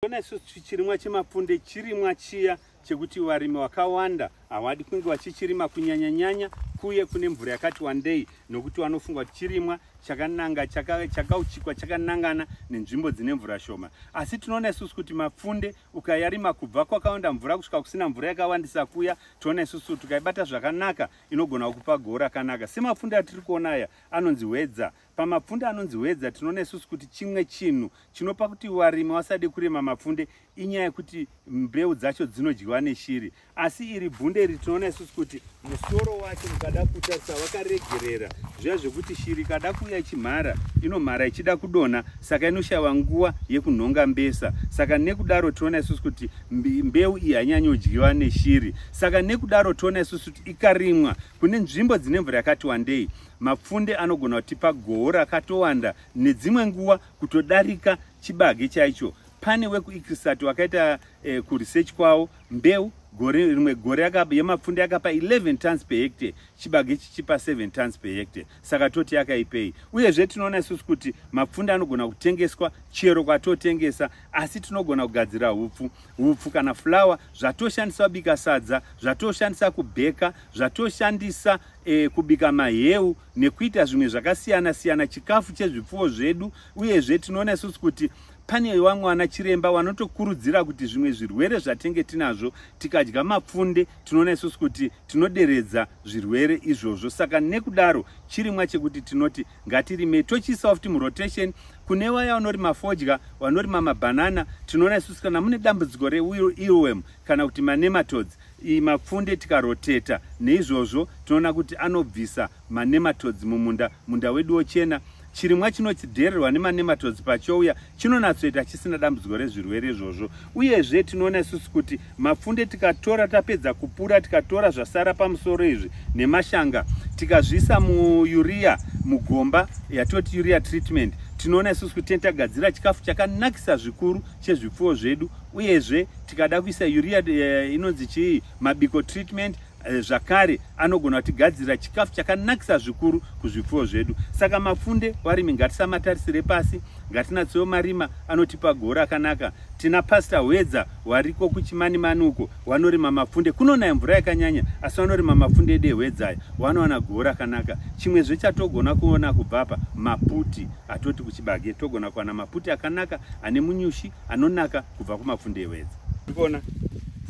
Tinoona isu chirimwa chemapfunde chirimwa chiya chekuti varimi vakawanda havadi kunge vachichirima kunyanya nyanya kuye kune mvura yakati wandei nokuti vanofunga kuti chirimwa chakananga chakauchikwa chaka chakanangana nenzvimbo dzine mvura shoma asi tinoona isusu kuti mapfunde ukayarima kubva kwakawanda mvura kusvika kusina mvura yakawandisa kuya tinoona isusu kuti ukaibata zvakanaka inogona kukupa gora kanaka semapfunde atiri kuona aya anonzi hwedza Pamapfunde anonzi hwedza tinoona isusu kuti chimwe chinhu chinopa kuti varimi vasade kurima mapfunde inyaya yekuti mbeu dzacho dzinodyiwa neshiri asi iri bunde iri tinoona isusu kuti musoro wacho mukada kutarisa wakaregerera zviya zvekuti shiri ikada kuuya ichimhara inomhara ichida kudonha saka inoshava nguva yekunhonga mbesa saka nekudaro tinoona isusu kuti mbeu iyi hanyanyodyiwa neshiri saka nekudaro tinoona isusu kuti ikarimwa Kune nzvimbo dzine mvura yakati wandei, mapfunde anogona kutipa goho rakatowanda nedzimwe nguva kutodarika chibage chaicho. Pane wekuIkrisati wakaita eh, kuresearch kwawo mbeu gore rimwe gore yemapfunde yakapa 11 tons per hectare chibage chichipa 7 tons per hectare saka toti yakaipei uyezve tinoona isusu kuti mapfunde anogona kutengeswa chero kwatotengesa asi tinogona kugadzira hupfu hupfu kana fulawa zvatoshandiswa bika sadza zvatoshandisa kubheka zvatoshandisa e, kubika maheu nekuita zvimwe zvakasiyana siyana chikafu chezvipfuwo zvedu uyezve tinoona isusu kuti pane vamwe vana chiremba vanotokurudzira kuti zvimwe zvirwere zvatenge tinazvo tikadya mapfunde tinoona isusu kuti tinoderedza zvirwere izvozvo saka nekudaro chirimwa chekuti tinoti ngatirime tochiisawo futi murotation kune vaya vanorima fodya vanorima mabhanana tinoona isusu kana mune dambudziko reirwem kana kuti manematods mapfunde tikaroteta neizvozvo tinoona kuti anobvisa manematods mumunda munda wedu wochena chirimwa chinodhererwa nemanema todzi pachouya chinonatsoita chisina dambudziko rezvirwere izvozvo uyezve tinoona isusu kuti mapfunde tikatora tapedza kupura tikatora zvasara pamusoro izvi nemashanga tikazviisa muuria mugomba yatoti uria treatment tinoona isusu kuti tagadzira chikafu chakanakisa zvikuru chezvipfuwo zvedu uyezve tikada kuisa uria eh, inonzi chii mabiko treatment Eh, zvakare anogona kutigadzirira chikafu chakanakisa zvikuru kuzvipfuwo zvedu saka mapfunde varimi ngatisamatarisire pasi ngatinatsewo marima anotipa goho rakanaka tina pasta hwedza wariko kuchimanimani uko wanorima mapfunde kunonaya mvura yakanyanya asi wanorima mapfunde ede hwedzaya wanowana goho rakanaka chimwezve chatogona kuona kubvapa maputi atoti kuchibage togona kuwana maputi akanaka ane munyushi anonaka kubva kumapfunde ewedza tiri kuona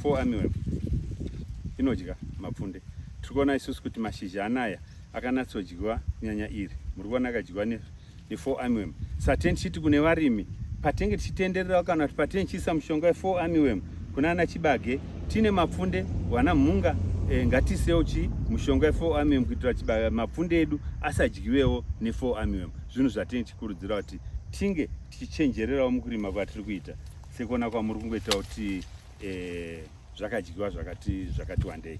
four armyworm inodya mapfunde tiri kuona isusu kuti mashizha anaya akanatsodyiwa nyanya iri muri kuona akadyiwa nefour armyworm saten chiti kune varimi patenge tichitendererawo kana kuti patenge tichiisa mushonga wefour armyworm kuna ana chibage tiine mapfunde wana mhunga e, ngatiisewo chi mushonga wefour armyworm kuitira chibage mapfunde edu asadyiwewo nefour armyworm zvinhu zvatenge tichikurudzira kuti tinge tichichenjererawo mukurima kwatiri kuita sekuona kwamuri kungoita kuti eh, zvakadyiwa zvakati wandei